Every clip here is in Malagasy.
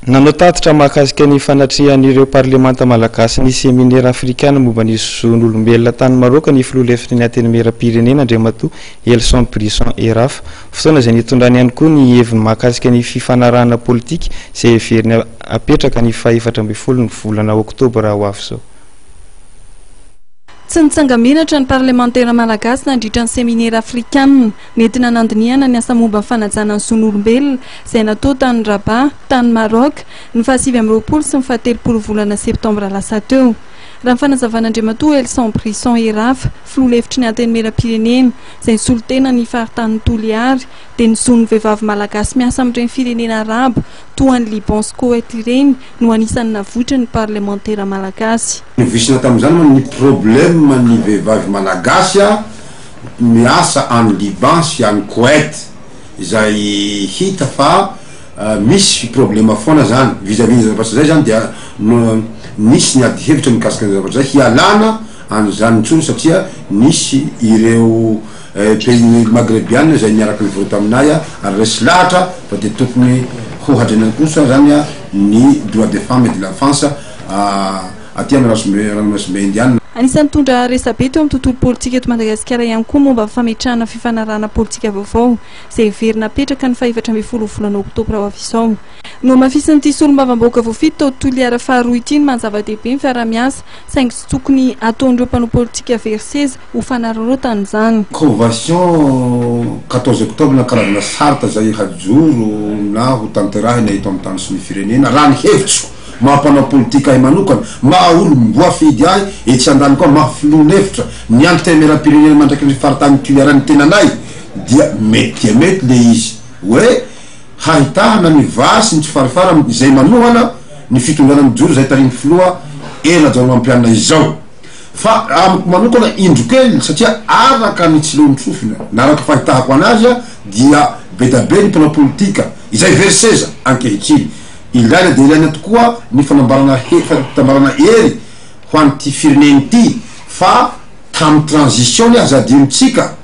Nanao tatitra mahakasika ny fanatrehan'ireo parlemanta malagasy ny seminera afrikana momba ny zon'olombelona tany Maraoka ny filoha lefitry ny Antenimieram-pirenena, Andriamatoa Elson Brisson Eraf, fotoana izay nitondrany ihany koa ny heviny mahakasika ny fifanarahana politika izay heveriny hapetraka ny fahefatra ambin'ny folo ny volana oktobra ho avy izao. Tsy nitsanga-menatra ny parlemantera malagasy nandritra ny seminera afrikana. Nentina nandinihana ny asa momba ny fanajana ny zon'olombelona izay natao tany Rabat, tany Maroc, ny faha sivy amby roapolo sy ny faha telopolo volana septambra lasa teo. Raha ny fanazavan'Andriamatoa Elson Brisson Erafa, filoha lefitry ny Antenimierampirenena, izay nisolo tena ny faritanin'i Toliary, dia ny zon'ny vehivavy malagasy miasa amin'ireny firenena arabo toa an'i Liban sy Koweït ireny no anisan'ny navoitry ny parlemantera malagasy. Novisina tamin'izany moa ny problème ny vehivavy malagasy. miasa any Liban sy any Koet izay hita fa misy problema foana zany vis à vis ny zavatra zay zany dia nisy ny ady hevitra mikasika ny zavatra zay hialana an'izany intsony satria nisy ireo pays ny magrebiana izay niaraka nivory taminay ary resy lahatra fa dia tokony hohadrenany kosa zany ny droit des femmes et de l'enfance Aty amin'ny razombe, ranomasimbe Indianina. Anisan'ny nitondra resabe teo amin'ny tontolo politika eto Madagasikara ihany koa ny momba ny fametrahana fifanarahana politika vaovao izay heverina hapetraka ny fahefatra ambin'ny folo volana oktobra ho avy izao. Nohamafisin'ity solombavambahoaka voafidy tao Toliara faharoa ity ny maha zava-dehibe ny fiaraha-miasa saingy tsy tokony hataon'ireo mpanao politika very seza ho fanararaotana izany. Convention quatorze octobre na karazana charte izay hajoro na hotanterahina eto amin'ny tany sy ny firenena raha ny hevitro. Maha mpanao politika ahy manokana, maha olom-boafidy ahy etsy andaniny koa, maha filoham-befitra ny Antenimierampirenena mandrakizay ny faritany Toliara ny tenanay dia mety dia mety le izy hoe hahitahana ny vary sy ny tsy farifara izay manohana ny fitondrana mijoro izay tarihin'ny filoha Hery Rajaonarimampianina izao. Fa amiko manokana indro kely satria araka ny tsilohiny sofina na araka fahitahako anazy dia bedabe ny mpanao politika izay very seza ankehitriny. Ilaina dia ilaina tokoa ny fanambarana he, fanambarana hery ho an'ity firenena ity fa tamin'ny transition ny aza adinontsika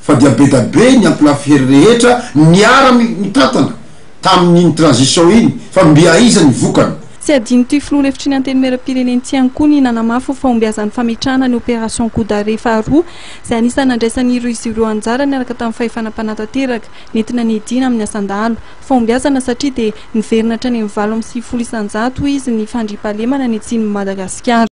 fa dia bedabe ny ampilafy hery rehetra niara mitantana tamin'iny transition iny fa mby aiza ny vokany. Tsy adinon'ity filoha lefitry ny antenimieram-pirenena ity ihany koa ny nanamafy ho fahombiazan'ny fametrahana ny opération coup d'arrêt faharoa izay anisan'ny nandraisan'izy ireo anjara niaraka tamin'ny fahefana mpanatanteraka nentina niadiana amin'ny asan-dahalo Fahombiazana satria dia niverina hatrany amin'ny valo amby sivifolo isan-jato hoy izy ny fandriampahalemana ny Atsimon'i Madagasikara.